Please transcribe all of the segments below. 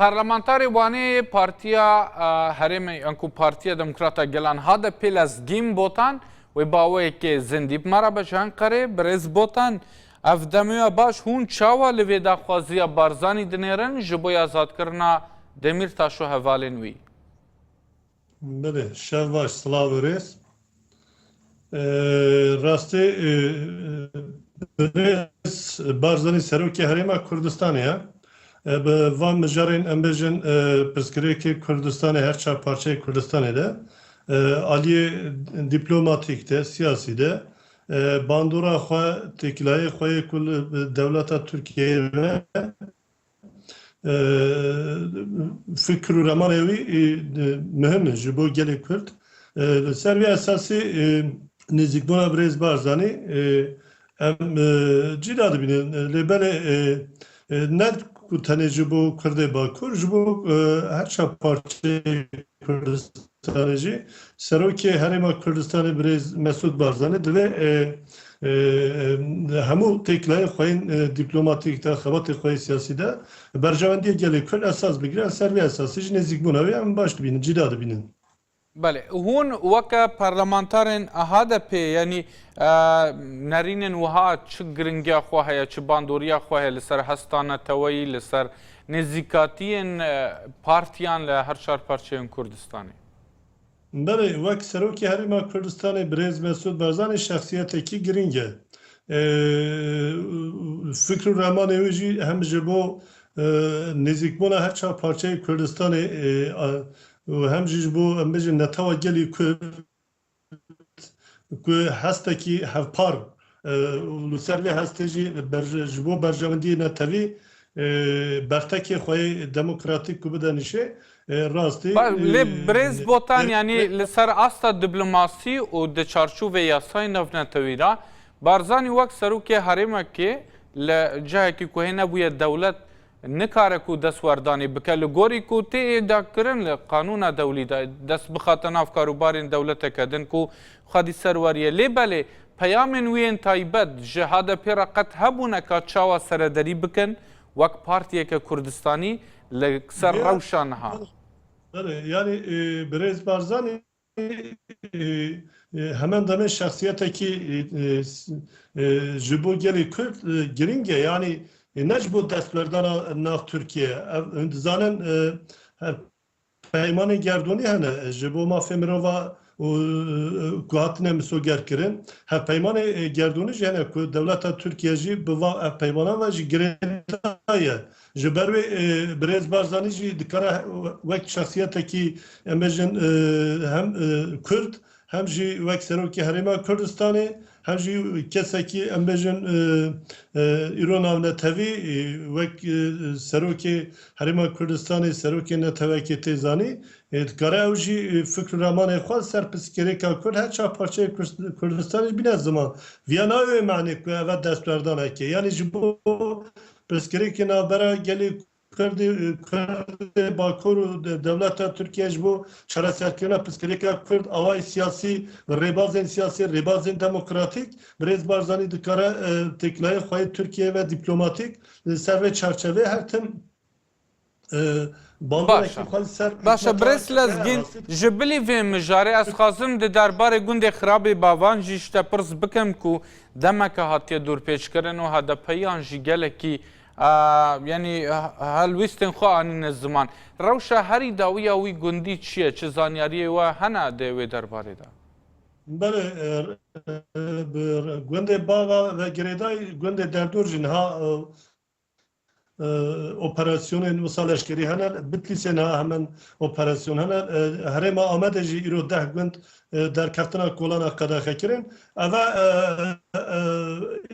Parlamentarê Wanê yê Partiya Herêmê yan ku Partiya Demokrata Gelan HDP'ê li Zgîm Botan wê baweyekê zindî bi me re be ji Enqerê. Birêz Botan, ev demoya baş hûn çawa li vê daxwaziya Barzanî dinêrin ji bo azadkirina Demîrtaş û hevalên wî? Bilê şev baş silav û rêz. Rastî birêz Barzanî Serokê Herêma Kurdistanê ye. Bi van mijarên em bêjin pirsgirêkê Kurdistanê her çar parçeyê Kurdistanê de aliyê dîplomatîk de, siyasî de bandora xwe, têkilahiyê xwe yê ku li dewleta Tirkiyeyê ve Fikir û remanê wî muhim in ji bo gelê Kurd. Li ser vê esasê nêzîkbûna birêz Barzanî em cîna dibînin. Lê belê ne ku tenê ji bo Kurdê Bakur, ji bo her çar parçeyê Kurdistan. Kurdistanê jî Serokê Herêma Kurdistanê Birêz Mesûd Barzanî divê li hemû têkilahên xwe yên dîplomatîk de, xebatên xwe yên siyasî de berjewendiyê gelê Kurd esas bigire, em ser vê esasê jî nêzîkbûna wê em baş dibînin, cîda dibînin. Belê, hûn weke parlamentarên HDP'ê yanî nerînên wiha çi giringiya xwe heye, çi bandoriya xwe heye li ser hesta neteweyî, li ser Nêzîkatiyên partiyan li her çar parçeyên Kurdistanê. Belê, wek Serokê Herêma Kurdistanê Birêz Mesûd Barzanî şexsiyetekî girîng e. Fikr û ramanê wî jî hem ji bo nêzîkbûna her çar parçeyê Kurdistanê û hem jî ji bo em bijîn netewa gelî Kurd, ku hestekî hevpar û li ser vê hestê jî ji bo berjewendiyê netewî bertekê xwe yê demokratîk ku bide nîşê rastî Lê birêz Botan yanî li ser asta diplomasî û di çarçovê yasayên navnetewî de Barzanî wek serokê herêmekê li cihekî ku hê nebûye dewlet Nikare ku destwerdanê bike li gorî ku tê da kirin li qanûna dewlî de, dest bixate nav karûbarên dewleteke din ku xwedî ser weriye. Lê belê peyamên wî yên taybet ji HDP'ê re qet hebûne ka çawa serederî bikin wek partiyeke kurdistanî li ser rewşa niha. Belê, yanî Birêz Barzanî Hemen demê şexsiyetekî ji bo gelê Kurd girîng e, yanî ne ji bo destberdana nav Tirkiyeyê. Ev hûn dizanin peymanên gerdûnî hene ji bo mafê mirova û ku hatine misogerkirin. Hevpeymanê gerdûnî jî hene ku dewleta Tirkiye jî bi va hevpeymanan ve ji girêdayî ye. Ji ber wê birêz Barzanî jî dikare wek şexsiyetekî em bêjin hem Kurd hem jî wek Serokê Herêma Kurdistanê hem jî kesekî em bêjin îro navnetewî wek Serokê Herêma Kurdistanê, Serokê Netewekê tê zanî dikare ew jî fikr û ramanên xwe li ser pirsgirêka Kurd her çar parçeyê Kurdistanê jî bîne ziman. Viya nayê wê manê ku ev destberdaneke yanî ji bo Pirsgirêkê navbera gelê Kurdê û Kurdê Bakur û dewleta Tirkiye ji bo çareserkirina pirsgirêka Kurd awayî siyasî bi rêbazên siyasî, rêbazên demokratîk Birêz Barzanî dikare têkilaya xwe yê Tirkiyeyê ve dîplomatîk li ser vê çarçeveyê her tim Baş e. Baş e Birêz Lezgîn, ji bilî vê mijarê ez xwazim di derbarê gundê Xirabê Bavan jî ji te pirs bikim ku demeke hatiye dûrpêçkirin û HDP'yan jî gelekî yanî helwîstên xwe anîne ziman. Rewşa herî dawî ya wî gundî çi ye? Çi zanyariyê we hene di wê derbarê de? Belê bi gundê Bavan ve girêdayî gundê Derdor jî niha operasyonên wisa leşkerî hene, Bitlîsê niha hemen operasyon hene. Herêma Amedê jî îro deh gund derkeftina kolana qedexe kirin. Eve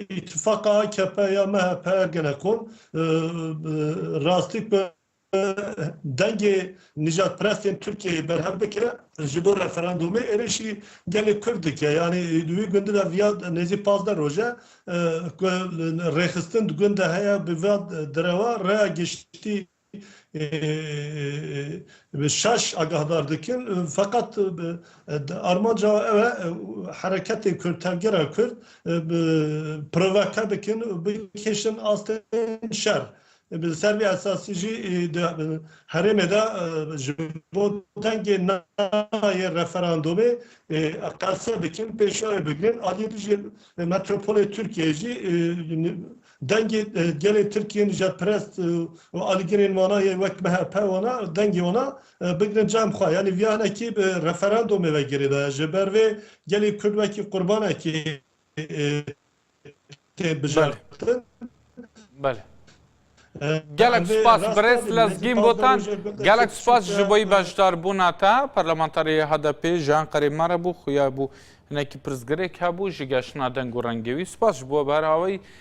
îtifaqa akp ya MHP Ergenekon rastî ku dengê nîjadperestên Tirkiyeyê berhev bike ji bo referandûmê êrişî gelê Kurd dike. Yanî di wî gundî de viya nêzî pazdeh roj e ku rêxistin di gund de heye bi va derewa rêya giştî bi şaş agahdar dikin feqet armanca wan ew e hereketên Kurd, tevgera Kurd provake bikin û bikêşin astên şer. Bi ser vî esasî jî di herêmê de ji bo dengê na yê referandomê qese dikin, pêşiyayê bigrin. Aliyê din jî metropolê Tirkiyeyê jî dengê gelê Tirkiyê nijetperest û alîgirên wana yê wek MHP wana dengê wana bigrin cem xwe. Yanî vîya hinekî bi referandomê ve girêdaye. Ji ber vê gelê Kurd wekî qurbanekî tê bijartin. Belê. Gelek spas birêz Lezgîn Botan. Gelek spas ji bo beşdarbûna te. Parlamenterê yê HDP'ê ji Enqerê me re bû, xuya bû hinekî pirsgirêk hebû ji geştina deng û rengê wî. Spas ji bo ber awayî.